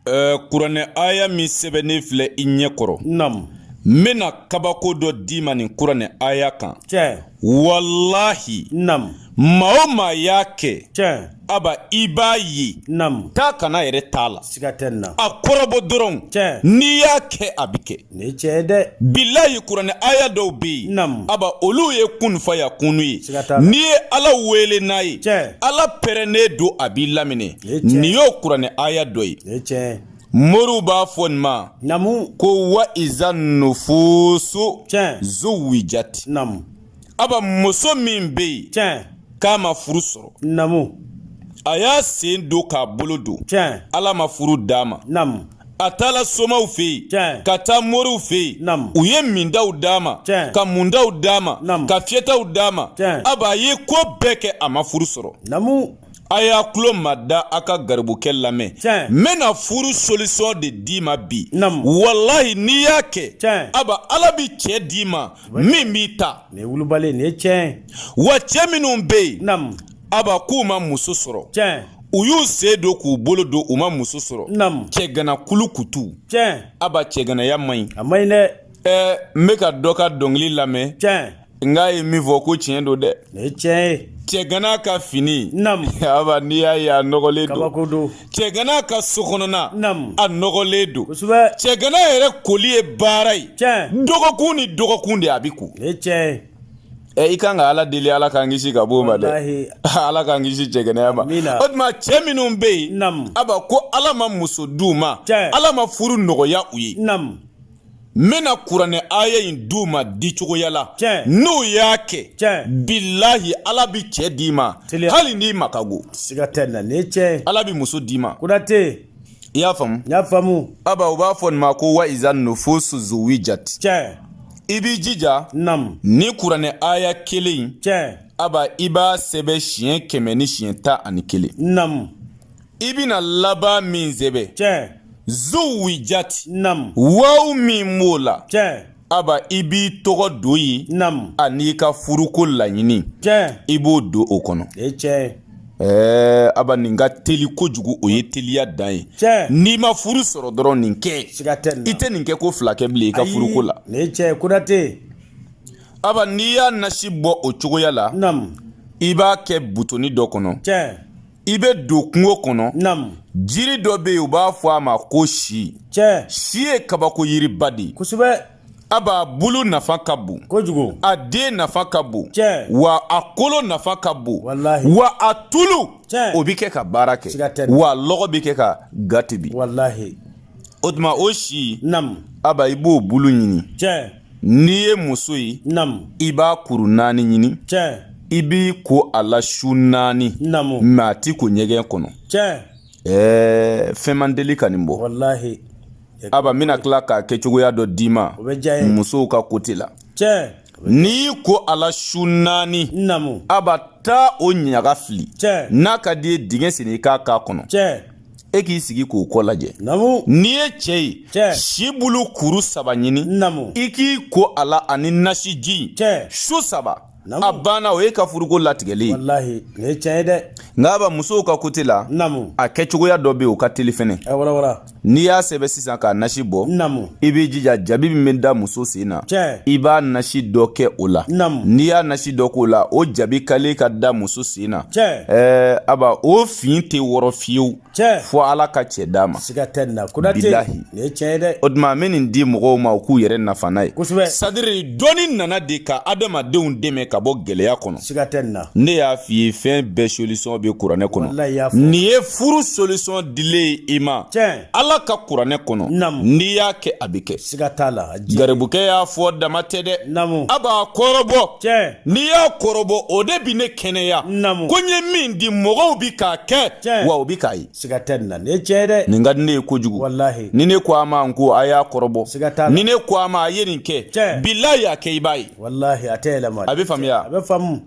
ɛɛ kuranɛ aya min sɛbɛnnen filɛ i ɲɛ kɔrɔ nam n bɛna kabako dɔ d'i ma nin kuranɛ aya kan tiɲɛ walahi nam maa o maa y'a kɛ tiɲɛ aba i b'a ye nam taa ka na yɛrɛ t'a la siga tɛ nin na a kɔrɔbɔ dɔrɔn tiɲɛ n'i y'a kɛ a bɛ kɛ Nin tiɲɛ dɛ bilahi kuranɛ aya dɔw bɛ yen aba olu ye kun fayakunu ye n'i ye ala wele n'a ye ala pɛrɛnnen don a b'i laminɛ nin y'o kuranɛ aya dɔ ye moriw b'a fɔ nin ma ko wa iza nufusu zuwijati aba muso min bɛ yen k'a ma furu sɔrɔ a y'a sen don k'a bolo don ala ma furu d'a ma a taala somaw fɛ yen ka taa moriw fɛ yen u ye mindaw d'a ma ka mundaw d'a ma ka fiyɛtaw d'a ma aba a ye ko bɛɛ kɛ a ma furu sɔrɔ a y'a tulo ma da a ka garibukɛ lamɛn n bɛna furu solisɔn de d'i ma bi walahi n'i y'a kɛ aba ala bɛ cɛ d'i ma min b'i ta wa cɛ minnu bɛ yen aba k'u ma muso sɔrɔ u y'u sen don k'u bolo don u ma muso sɔrɔ cɛgana kulu kutu aba cɛganaya man ɲi ɛɛ n bɛ ka dɔ ka dɔnkili lamɛn nk'a ye min fɔ ko tiɲɛ don dɛ cɛgana ka fini aba n'i y'a ye a nɔgɔlen don cɛgana ka sokɔnɔna a nɔgɔlen don cɛgana yɛrɛ koli ye baara ye dɔgɔkun ni dɔgɔkun de a bɛ ko Ɛ i kan ka ala deli ala k'an kisi ka bɔ o ma dɛ ala k'an kisi cɛganaya ma o tuma cɛ minnu bɛ yen aba ko ala ma muso di u ma ala ma furu nɔgɔya u ye n bɛna kuranɛ aya in di u ma di cogoya la n'u y'a kɛ bilahi ala bɛ cɛ di i ma hali n'i ma ka go siga tɛ nin na nin tiɲɛ ala bɛ muso d'i ma kotɛ i y'a faamu aba u b'a fɔ nin ma ko wa iza nufusu zuwijati i b'i jija nam nin kuranɛ aya kelen tiɲɛ aba i b'a sɛbɛn siɲɛ kɛmɛ ni siɲɛ tan ani kelen nam i bɛna laban min sɛbɛn tiɲɛ zuwijati nam waw min b'o la tiɲɛ aba i b'i tɔgɔ don yen nam an'i ka furuko laɲini tiɲɛ i b'o don o kɔnɔ e tiɲɛ Ɛɛ aba nin ka teli kojugu o ye teliya dan ye n'i ma furu sɔrɔ dɔrɔn nin kɛ i tɛ nin kɛ ko fila kɛ bilen i ka furuko la tiɲɛ ye aba n'i y'a nasi bɔ o cogoya la i b'a kɛ butoni dɔ kɔnɔ i bɛ don kungo kɔnɔ jiri dɔ bɛ yen u b'a fɔ a ma ko si si ye kabako yiriba de ye aba bulu nafa ka bon kojugu a den nafa ka bon Tiɲɛ. wa a kolo nafa ka bon Walahi. wa a tulu Tiɲɛ. o bɛ kɛ ka baara kɛ Siga tɛ nin na. wa lɔgɔ bɛ kɛ ka ga tobi walahi o tuma o si namu aba i b'o bulu ɲini tiɲɛ n'i ye muso ye namu i b'a kuru naani ɲini tiɲɛ i b'i ko a la su naani namu mɛ a t'i ko ɲɛgɛn kɔnɔ tiɲɛ Ɛɛ fɛn man deli ka nin bɔ aba n bɛna tila k'a kɛcogoya dɔ d'i ma musow ka kote la n'i ko a la su naani aba taa o ɲaga fili n'a ka d'i ye dingɛ sen i k'a k'a kɔnɔ e k'i sigi k'o kɔ lajɛ n'i ye cɛ ye si bulu kuru saba ɲini i k'i ko a la ani nasiji su saba a banna o y'i ka furuko latigɛlen ye nka aba musow ka kote la a kɛcogoya dɔ bɛ yen o ka teli fɛnɛ n'i y'a sɛbɛn sisan k'a nasi bɔ i b'i jija jabi min bɛ da muso sen na i b'a nasi dɔ kɛ o la n'i y'a nasi dɔ k'o la o jabi kale ka da muso sen na ɛɛ aba o fin tɛ wɔrɔ fiyewu tiɲɛ fo ala ka cɛ d'a ma siga tɛ nin na konate bilahi nin ye tiɲɛ ye dɛ o tuma n bɛ nin di mɔgɔw ma u k'u yɛrɛ nafa n'a ye kosɛbɛ sadiri dɔnni nana de ka adamadenw dɛmɛ ka bɔ gɛlɛya kɔnɔ siga tɛ nin na ne y'a f'i ye fɛn bɛɛ solisɔn bɛ kuranɛ kɔnɔ nin ye furu solisɔn dilen ye i ma tiɲɛ ala ka kuranɛ kɔnɔ n'i y'a kɛ a bɛ kɛ siga t'a la garibukɛ y'a fɔ dama tɛ dɛ a b'a kɔrɔbɔ n'i y'a kɔrɔbɔ o de bɛ ne kɛnɛya ko n ye min di mɔgɔw bɛ k'a kɛ wa u bɛ k'a ye nin ka di ne ye kojugu ni ne ko a ma n ko a y'a kɔrɔbɔ ni ne ko a ma a ye nin kɛ bilahi a kɛ i b'a ye a bɛ faamuya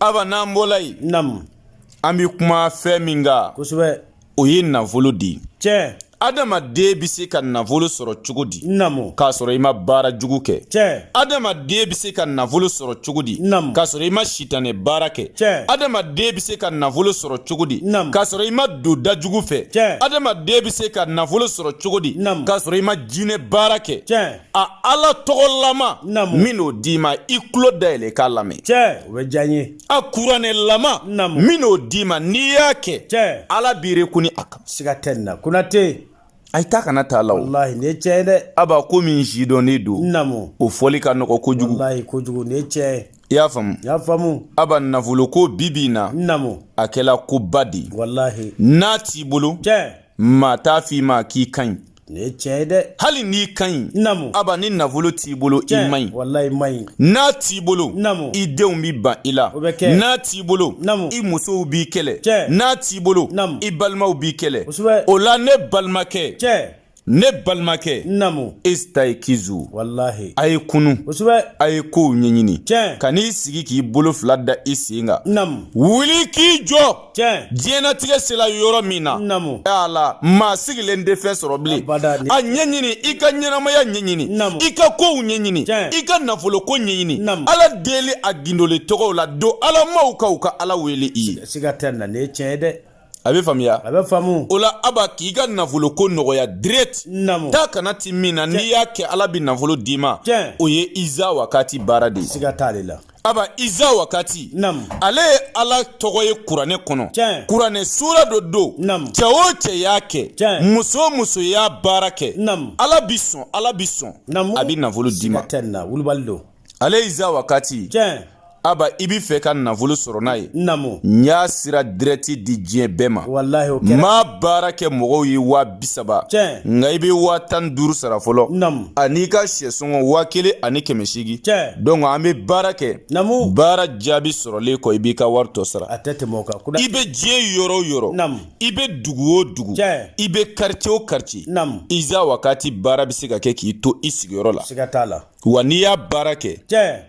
aba n'an bɔla yen an bɛ kuma fɛn min kan o ye nafolo de adamaden bɛ se ka nafolo sɔrɔ cogo di namu k'a sɔrɔ i ma baara jugu kɛ tiɲɛ adamaden bɛ se ka nafolo sɔrɔ cogo di namu k'a sɔrɔ i ma sitanɛ baara kɛ tiɲɛ adamaden bɛ se ka nafolo sɔrɔ cogo di namu k'a sɔrɔ i ma don da jugu fɛ tiɲɛ adamaden bɛ se ka nafolo sɔrɔ cogo di namu k'a sɔrɔ i ma jinɛ baara kɛ tiɲɛ a ala tɔgɔlama namu n bɛn'o d'i ma i tulo dayɛlɛ k'a lamɛn tiɲɛ o bɛ diya n ye a kuranɛlama n bɛn'o d'i ma n'i y'a kɛ ala b'i kun ni a kan siga tɛ nin na konate a ye taa kana taa la walahi nin ye tiɲɛ ye dɛ aba ko min sidɔnnen don namu o fɔli ka nɔgɔ kojugu walahi kojugu nin ye tiɲɛ ye i y'a faamu n y'a faamu aba nafolo ko bi bi in na namu a kɛla koba de ye walahi n'a t'i bolo tiɲɛ maa t'a f'i ma k'i ka ɲi nin ye tiɲɛ ye dɛ hali n'i ka ɲi namu aba ni nafolo t'i bolo i man ɲi walayi man ɲi n'a t'i bolo namu i denw bi ban i la o bɛ kɛ n'a t'i bolo namu i musow b'i kɛlɛ tiɲɛ n'a t'i bolo namu i balimaw b'i kɛlɛ kosɛbɛ o la ne balimakɛ tiɲɛ ne balimakɛ namu isitayikizu walahi a ye kunu kosɛbɛ a ye kow ɲɛɲini tiɲɛ kan'i sigi k'i bolo fila da i sen kan namu wuli k'i jɔ tiɲɛ diɲɛnatigɛ sela yɔrɔ min na namu ala maa sigilen tɛ fɛn sɔrɔ bilen a ɲɛɲini i ka ɲɛnamaya ɲɛɲini namu i ka kow ɲɛɲini i ka nafolo ko ɲɛɲini namu ala deli a gindole tɔgɔw la don alamaw kan u ka ala wele i ye siga tɛ nin na nin ye tiɲɛ ye dɛ a bɛ faamuya a bɛ faamu o la aba k'i ka nafolo ko nɔgɔya direct namu taa ka na ti min na n'i y'a kɛ ala bɛ nafolo d'i ma o ye iza wakati baara de ye siga t'ale la aba iza wakati Nam. ale ye ala tɔgɔ ye kuranɛ kɔnɔ Tiɲɛ. kuranɛ sura dɔ don Nam. cɛ o cɛ y'a kɛ Tiɲɛ. muso o muso y'a baara kɛ Nam. ala bi sɔn ala bi sɔn Namu. a bi nafolo d'i ma Siga tɛ nin na wulibali don ale ye iza wakati tiɲɛ aba i bi fɛ ka nafolo sɔrɔ n'a ye namu n y'a sira direct di diɲɛ bɛɛ ma walahi o kɛra n b'a baara kɛ mɔgɔw ye waa bisaba Tiɲɛ. nka i bɛ waa tan ni duuru sara fɔlɔ namu an'i ka sɛ sɔngɔ waa kelen ani kɛmɛ seegin donc an bɛ baara kɛ baara jaabi sɔrɔlen kɔ i b'i ka wari tɔ sara a tɛ tɛmɛ o kan i bɛ diɲɛ yɔrɔ o yɔrɔ i bɛ dugu o dugu i bɛ quartier o quartier Iza Wakati baara bɛ se ka kɛ k'i to i sigiyɔrɔ la siga t'a la wa n'i y'a baara kɛ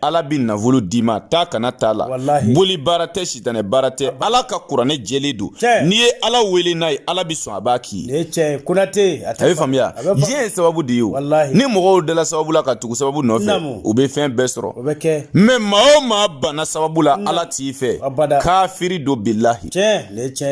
ala bɛ nafolo d'i ma taa ka na t'a la boli baara tɛ sitanɛ baara tɛ ala ka kuranɛ jɛlen don n'i ye ala wele n'a ye ala bɛ sɔn a b'a k'i ye a bɛ faamuya diɲɛ ye sababu de ye o ni mɔgɔw dala sababu la ka tugu sababu nɔfɛ u bɛ fɛn bɛɛ sɔrɔ mais maa o maa banna sababu la ala t'i fɛ kafiri don bilahi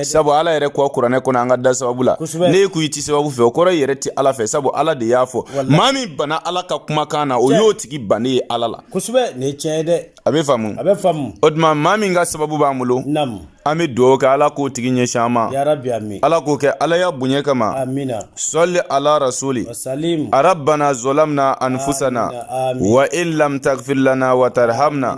sabu ala yɛrɛ ko kuranɛ kɔnɔ an ka da sababu la n'e ko i tɛ sababu fɛ o kɔrɔ i yɛrɛ tɛ ala fɛ sabu ala de y'a fɔ maa min banna ala ka kumakan na o y'o tigi bannen ye ala la kosɛbɛ nin ye tiɲɛ ye dɛ a bɛ faamu a bɛ faamu o tuma maa min ka sababu b'an bolo naamu an bɛ dugawu kɛ ala k'o tigi ɲɛsin an ma yarabi ami ala k'o kɛ ala y'a bonya kama amina sɔli ala rasuli wasalim rabana zolamna anfusana wa in lam tagfir lana wa tarhamna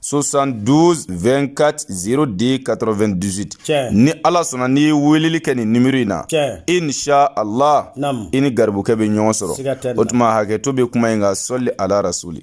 sosan duz vkati zo de ka2 dusu cɛ ni ala sɔnna n'i ye weleli kɛ nin niri in na cɛ e ni a la i ni garibukɛ bɛ ɲɔgɔn sɔrɔ o tuma hakɛ to bɛ kuma in nka sɔli alara soli